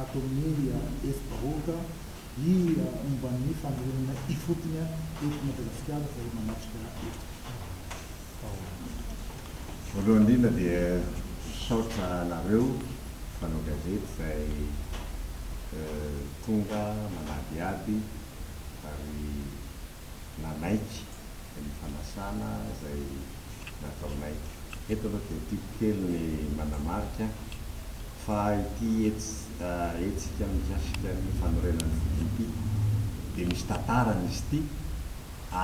ato amin'ny Facebook i momba ny fanorenana ifotony eto Madagasikara izay manatrika taona. Voalohany indrindra dia misaotra anareo mpanao gazety izay tonga manadihady ary. nanaiky ny fanasana izay nataonay. Eto aloha dia tiako kely ny manamarika fa ity hetsika mikasika ny fanorenan'ny foko ity dia misy tantarany izy ity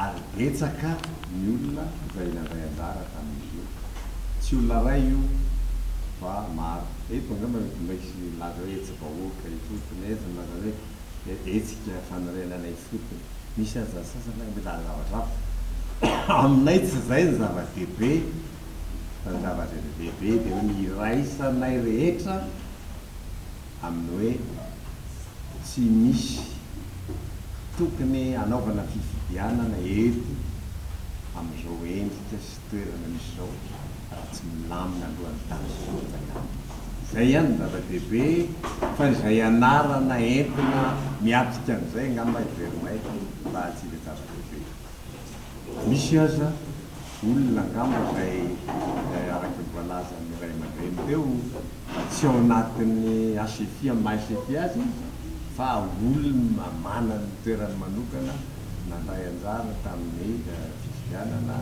ary betsaka ny olona izay nandray anjara tamin'izy io. Tsy olona iray io fa maro. Eto angamba mety mba hisy milaza hoe hetsi-bahoaka ifotony, hetsi-bahoaka, milaza hoe. dia hetsika fanorenana ifotony. Misy aza ny sasany ary mitady zavatra hafa. Aminay tsy izay ny zava-dehibe fa ny zava-dehibe dia hoe ny iraisanay rehetra amin'ny hoe tsy misy tokony hanaovana fifidianana eto amin'izao endrika sy toerana misy izao raha tsy milamina alohan'ny tany sy olona ihany. Izay ihany no zava-dehibe fa izay anarana entina miatrika an'izay angamba heveronay fa tsy ilay zava-dehibe. Misy aza olona angamba izay araka ny voalazan'ny ray aman-dreny teo fa tsy ao anatin'ny HFI amin'ny maha HFI azy izy fa olona manana ny toerany manokana nandray anjara tamin'ny fifidianana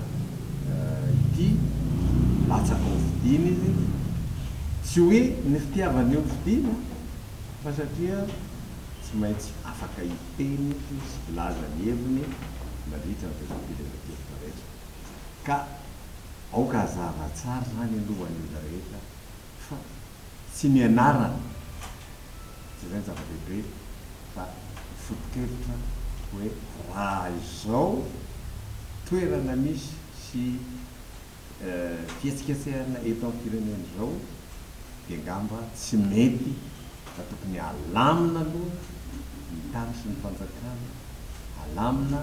ity, nilatsaka ho fidiana izy, tsy hoe ny fitiavany io fidiana fa satria tsy maintsy afaka hiteny sy hilaza ny heviny mandritra ny fehezam-pireneran-kevitra rehetra ka aoka hazava tsara izany aloha ho an'ny olona rehetra. fa tsy ny anarany izay no zava-dehibe fa ny foto-kevitra hoe raha izao toerana misy sy fihetsiketsehana eto amin'ny firenena izao dia angamba tsy mety fa tokony alamina aloha ny tany sy ny fanjakana, alamina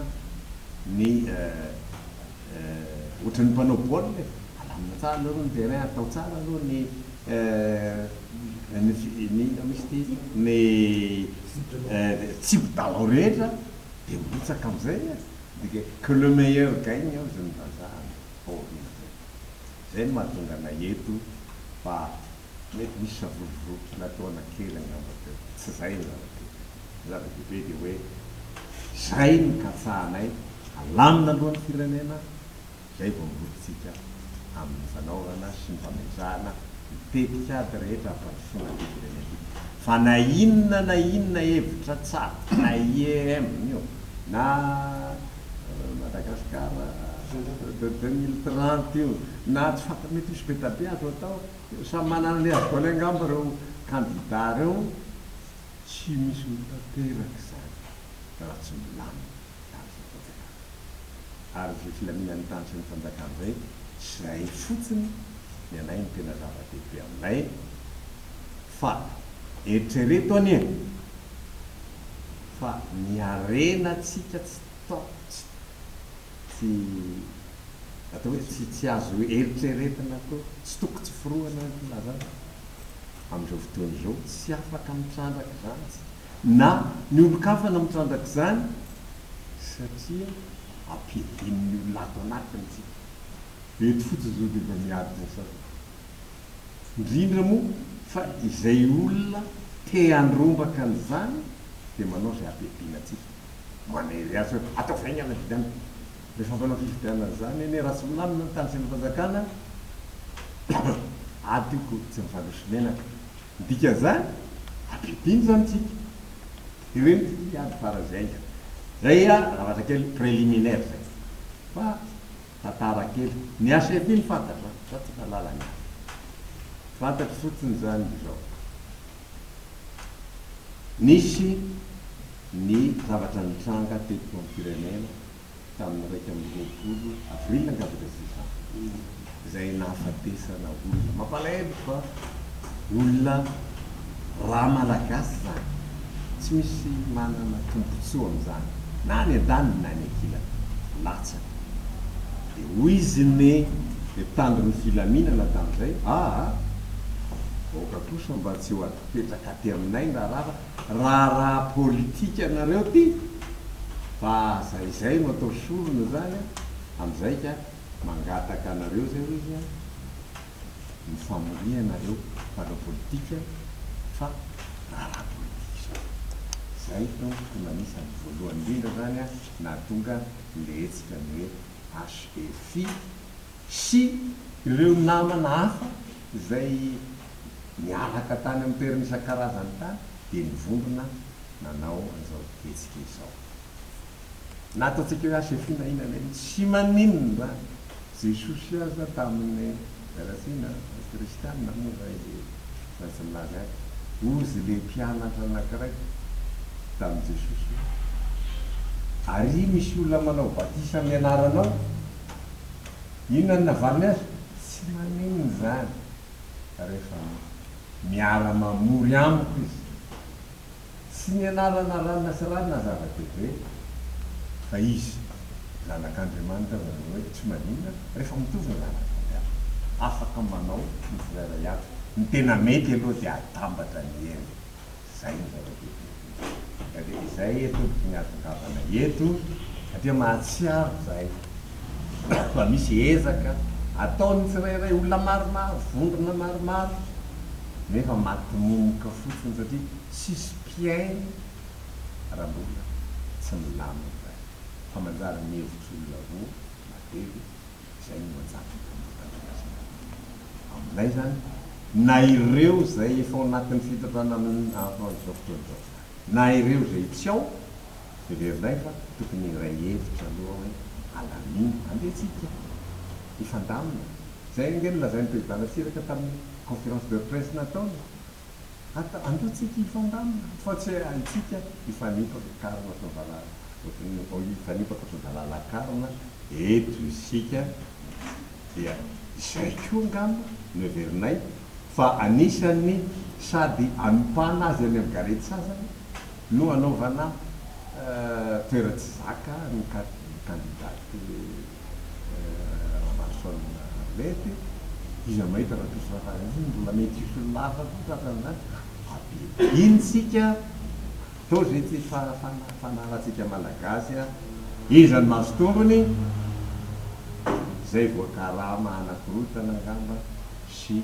ny. Eh, ohatran'ny mpanao baolina e! Alamina tsara aloha ny terrain, atao tsara aloha ny eh, ny fi, ny inona misy ity, ny eh, tsipy dalao rehetra, dia mirotsaka amin'izay e! Midika hoe que le meilleur gagne hozy ny vazaha any baolina zay. Zay no mahatonga anay eto fa. Mety nisy savorovoro nataona kely angamba teo. Tsy izay no zava-dehibe. Ny zava-dehibe dia hoe izay no katsahanay alamina aloha ny firenena, izay vao mirotsika amin'ny fanaovana sy ny famehezana ny tetikady rehetra hampandrosoana an'ity firenena ity. Fa na inona na inona hevitra tsara, na IEM io, na Madagascar deux mille trente io, na tsy fantatra, mety hisy be dia be azo atao. Samy manana ny heviny angamba ireo kandida ireo, tsy misy mitanteraka izany raha tsy milamina izany sy ny fanjakana. Ary izay filaminan'ny tany sy ny fanjakana izay, izay fotsiny ny anay no tena zava-dehibe aminay fa eritrereto anie fa ny harenantsika tsy Tsy atao hoe tsy tsy azo eritreretina akory, tsy toko tsy forohana ny filazana amin'izao fotoana izao, tsy afaka mitrandraka izany isika na ny olon-kafa na mitrandraka izany satria ampiadian'ny olona ato anatiny isika. Eto fotsiny izao dia efa miady ny sasany. indrindra moa fa izay olona te handrombaka an'izany dia manao izay habiabiana antsika, manery azy hoe ataovy haingana ny fifidianana, rehefa manao fifidianana izany anie Ratsimilamina ny tany sy ny fanjakana adiko tsy mifandroso menaka, ny dikan'izany habiabiana izany tsika, dia ireny tsy miady faran'izay haingana, izay zavatra kely préliminaire izay fa. tantara kely. Ny hachette iny fantatro an, fa tsy mahalala ny hafa. Fantatro fotsiny izany dia izao, nisy ny zavatra nitranga teto amin'ny firenena tamin'ny iraika amby roapolo avril angamba ilay session, izay nahafatesana olona. Mampalahelo fa olona ra Malagasy izany, tsy misy manana tombontsoa amin'izany na any an-daniny na any an-kilany, latsaka. Dia hoy izy ny mpitandron'ny filaminana tamin'izay, aa, aoka kosa mba tsy ho adipetraka aty aminay na rava, raharaha politika nareo ity, fa aza izay no atao sorona izany an, amin'izay ka mangataka anareo izay hoy izy an, ny famoriana ireo mpanao politika fa raharaha politika izao. Izay no tompoko nanisa ny voalohany indrindra izany an, nahatonga le hetsika ny hoe HEFI sy ireo namana hafa izay niaraka tany amin'ny toerana isan-karazany tany dia nivondrona nanao an'izao hetsika izao. Na ataontsika hoe HEFI na inona na inona, tsy maninona izany. Jesosy aza taminy ratsina ny kristiana moa zay le raha tsy milaza ahy ozy le mpianatra anakiray taminy jesosy hoe ary misy olona manao batisa amy anaranao inona no navaliny azy tsy maninona zany refa miara mamory amiko izy sy ny anarana ranona sy rarina zava-dehibe fa izy zanak'Andriamanitra izany hoe tsy maninona rehefa mitovy ny zanaka fampiasa afaka manao ny frere ato ny tena mety aloha dia atambatra ny hery izay no zava-dehibe indrindra dia izay eto no tiany ahatongavana eto satria mahatsiaro izahay fa misy ezaka ataon'ny tsirairay, olona maromaro, vondrona maromaro, nefa matomomka fotsiny satria tsisy mpihaino raha mbola tsy milamina izany. Fa manjary ny hevitr'olona roa na telo, izay no manjary hita mifandrakizay. Aminay izany, na ireo izay efa ao anatin'ny fitodrana amin'izao fotoana izao, na ireo izay tsy ao, Hevero indray fa tokony hiray hevitra aloha hoe alamino andeha tsika hifandamina. Izay ange no lazain'i Président Ratsiraka tamin'ny conférence de presse nataony. Atao, andeha tsika hifandamina fa tsy hoe antsika hifanimpa ny karona sy ny valala, hifanimpa ankoatry ny valala-karona eto isika. Dia izay koa angamba no heverinay fa anisan'ny sady anompana azy any amin'ny gare tsy sasany. No hanaovana toeran-tsizaka ny kandidaty Ramaroson Arlette, iza mahita raha toa sora faran'izay izany mbola mety hisoloana hafa koa tratran'izany? Ampidino tsika atao izay tsy fanarantsika malagasy, iza no mahazo tombony? Izay voakarama hanakorontana angamba sy.